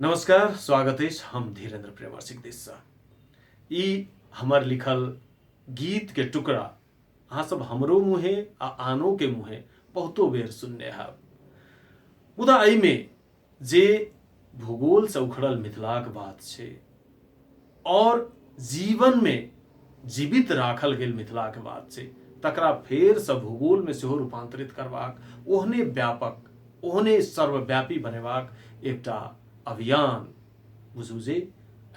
नमस्कार स्वागत अछि हम धीरेन्द्र प्रेमर्षिक दिससँ ई हमर लिखल गीतके टुकड़ा अहाँसभ हमरो मुँहे आ आनोके मुँहे बहुतो बेर सुनने हैब मुदा एहिमे जे भूगोलसँ उखड़ल मिथिलाक बात छै और जीवन में जीवित राखल गेल मिथिला के बात छै तकरा फेर से भूगोल में सेहो रूपांतरित करबाक ओहने व्यापक ओहने सर्वव्यापी बनेबाक एकटा अभियान बुझू जे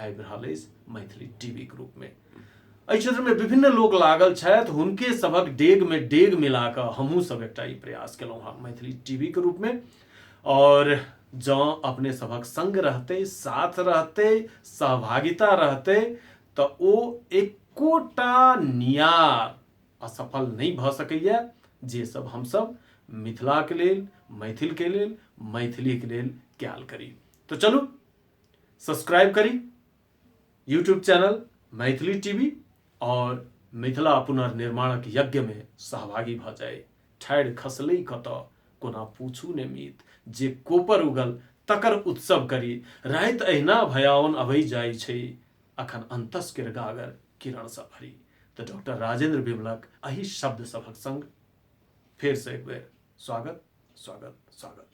आबि रहल अछि मैथिली टीवी के रूप में एहि क्षेत्र में विभिन्न लोग लागल छथि हुनके सभक डेग में डेग मिला कऽ हमहूँ सब एकटा ई प्रयास केलहुँ हँ मैथिली टीवी के रूप में और जँ अपने सभक संग रहते साथ रहते सहभागिता रहते तऽ ओ एकोटा नियार असफल नहि भऽ सकैए जे सब हमसब मिथिलाके लेल मैथिलके लेल मैथिलीके लेल कयल करी तऽ चलू सब्सक्राइब करी यूट्यूब चैनल मैथिली टीवी और मिथिला पुनर्निर्माणक यज्ञ में सहभागी भ जाय ठाढ़ि खसलै कत कोना पूछू ने मीत जे कोपर उगल तकर उत्सव करी रात अहिना भयावन अबै जाइ छै अखन अंतस किर गागर किरण से भरी तो डॉक्टर राजेंद्र विमलक अही शब्द सभक संग फेर से एक बेर स्वागत स्वागत स्वागत